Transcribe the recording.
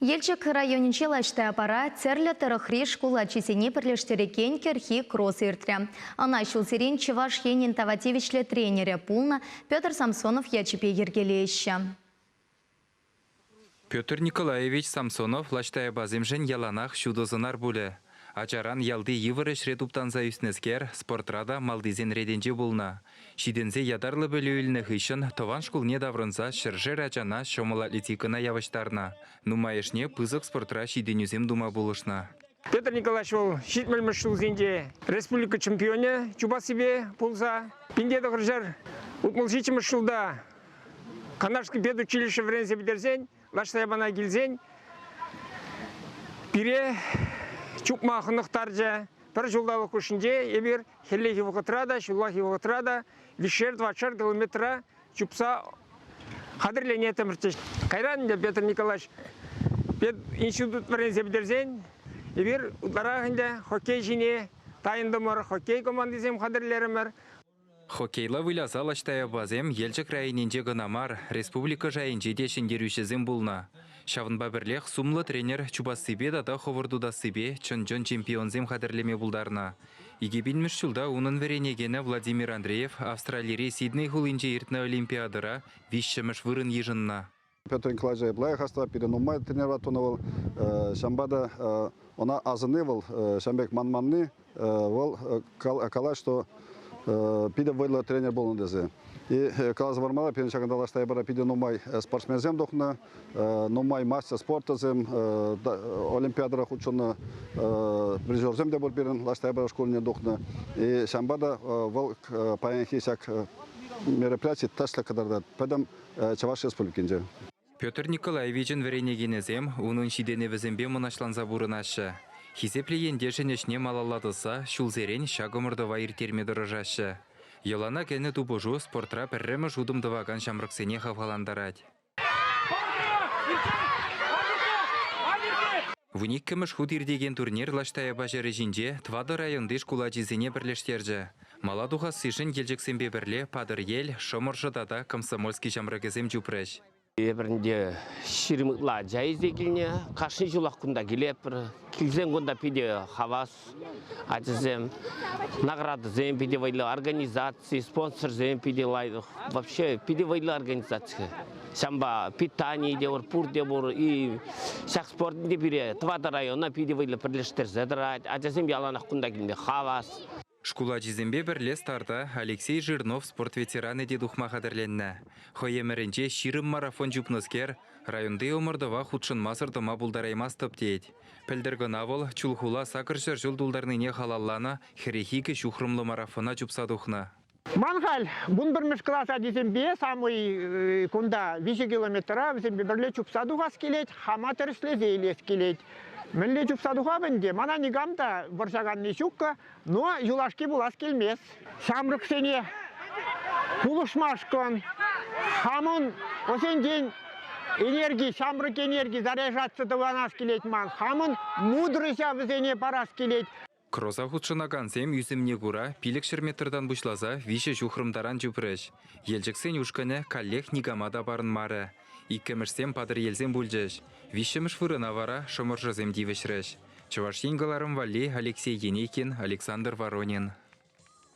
Елчӗк районӗнчи лаҫтапара тӗрлӗ тӑрӑхри шкул ачисене пӗрлештерекен кӗрхи кросс иртрӗ. Ӑна ҫулсерен Чӑваш Енӗн тава тивӗҫлӗ тренерӗ пулнӑ Петр Самсонов ячӗпе йӗркелеҫҫӗ. Петр Николаевич Самсонов лаҫтаяпасемшӗн яланах ҫутӑ сӑнар пулӗ. Ачаран ялти йывӑр ӗҫре туптанса ӳснӗскер спортра та малтисен ретӗнче пулнӑ. Ҫитӗнсе ятарлӑ пӗлӳ илнӗ хыҫҫӑн тӑван шкулне таврӑнса ҫӗршер ачана ҫӑмӑл атлетикӑна явӑҫтарнӑ. Нумайӑшне пысӑк спортра ҫитӗнӳсем тума пулӑшнӑ. Петр Николаевич вӑл ҫитмӗлмӗш ҫулхинче республика чемпионӗ чупассипе пулса пинте тӑхӑрҫӗр утмӑл ҫиччӗмӗш ҫулта Канашский педучилище вӗренсе пӗтерсен Лаштайбана килсен пире чупма хӑнӑхтарчӗ. Пӗр ҫулталӑк хушшинче эпир хӗллехи вӑхӑтра та, ҫуллахи вӑхӑтра та виҫшер-двадцать километра чупса хатӗрленеттӗмӗрччӗ. Кайран ӗнтӗ Петр Николаевич институт вӗренсе пӗтерсен эпир ытларах ӗнтӗ хоккей ҫине тайӑнтӑмӑр, хоккей командисем хатӗрлерӗмӗр. Хоккейла выляса Лаҫтаевасем Елчӗк районӗнче кӑна мар, республика шайӗнче те ҫӗнтерӳҫӗсем пулнӑ. Ҫавӑнпа пӗрлех сумлӑ тренер чупассипе тата хӑвӑрт утассипе чӑн-чӑн чемпионсем хатӗрлеме пултарнӑ. Икӗ пинмӗш ҫулта унӑн вӗренекенӗ Владимир Андреев Австралири Сидней хулинче иртнӗ Олимпиадӑра виҫҫӗмӗш вырӑн йышӑннӑ. Петр Николаевич лайӑх хастар, пире нумай тренера тунӑ вӑл. Ҫавӑнпа та ӑна асӑнни вӑл ҫавӑн пек манманни, вӑл калать, что питӗ вӑйлӑ тренер пулнӑ тесе. И каласа пармалла, пирӗн ҫакӑнта лаш тайпара питӗ нумай спортсменсем тухнӑ, нумай мастер спортӑсем, олимпиадӑра хутшӑннӑ призерсем те пур пирӗн лаш тайпара шкулне тухнӑ. И ҫавӑнпа та вӑл паянхи ҫак мероприяти тӗслӗ кӑтартать. Поэтому Чӑваш Республикинче. Петр Николаевичӑн вӗренекенӗсем унӑн ҫитӗнӗвӗсемпе мӑнаҫланса пурӑнаҫҫӗ. Хисеплӗ ентешӗн ӗҫне малалла тӑсса ҫулсерен ҫак ӑмӑртӑва ирттерме тӑрӑшаҫҫӗ. Йӑлана кӗнӗ тупӑшу спортра пӗрремӗш утӑм тӑвакан ҫамрӑксене хавхалантарать. Вун иккӗмӗш хут иртекен турнир Лаштаяпа ҫӗрӗ ҫинче тӑватӑ районти шкул ачисене пӗрлештерчӗ. Мала тухассишӗн Елчӗксемпе пӗрле Патӑрьел, Шӑмӑршӑ тата Комсомольски ҫамрӑкӗсем чупрӗҫ. Эпир ӗнтӗ ҫирӗм ытла ача илсе килнӗ. Кашни ҫулах кунта килетпӗр. Килсен кунта питӗ хавас ачасем. Наградӑсем питӗ вӑйлӑ, организаци, спонсорсем питӗ лайӑх. Вообще питӗ вӑйлӑ организаци. Ҫавӑнпа питание те пур, пурте пур. И ҫак спортӑн те пире тӑватӑ района питӗ вӑйлӑ пӗрлештерсе тӑрать. Ачасем яланах кунта килме хавас. Шкул ачисемпе пӗрле старта Алексей Жирнов спорт ветеранӗ те тухма хатӗрленнӗ. Хӑй ӗмӗрӗнче ҫирӗм марафон чупнӑскер районти ӑмӑртӑва хутшӑнмасӑр тӑма пултараймастӑп тет. Пӗлтӗр кӑна вӑл Чулхула сакӑр ҫӗр ҫул тултарнине халалланӑ хӗрӗх икӗ ҫухрӑмлӑ марафона чупса тухнӑ. Ман халь вунпӗрмӗш класс ачисемпе самӑй кунта виҫӗ километра вӗсемпе пӗрле чупса тухас килет, хама тӗрӗслесе илес килет. Мӗнле чупса тухап ӗнтӗ, мана никам та вӑрҫаканни ҫуккӑ, но юлашки пулас килмест. Ҫамрӑксене пулӑшмашкӑн хамӑн ӑсенчен энерги, ҫамрӑк энерги заряжаться тӑванас килет ман, хамӑн мудрӑҫа вӗсене парас килет. Кроса хутшӑнакансем ӳсӗмне кура пилӗкҫӗр метртан пуҫласа виҫӗ ҫухрӑм таран чупрӗҫ. Елчӗксен ушкӑнӗ каллех никама та парӑнмарӗ. Иккӗмӗшсем патӑрьелсем пулчӗҫ. Виҫҫӗмӗш вырӑна вара шӑмӑршӑсем тивӗҫрӗҫ. Чӑваш Ен кӑларӑм валли Алексей Енейкин, Александр Воронин.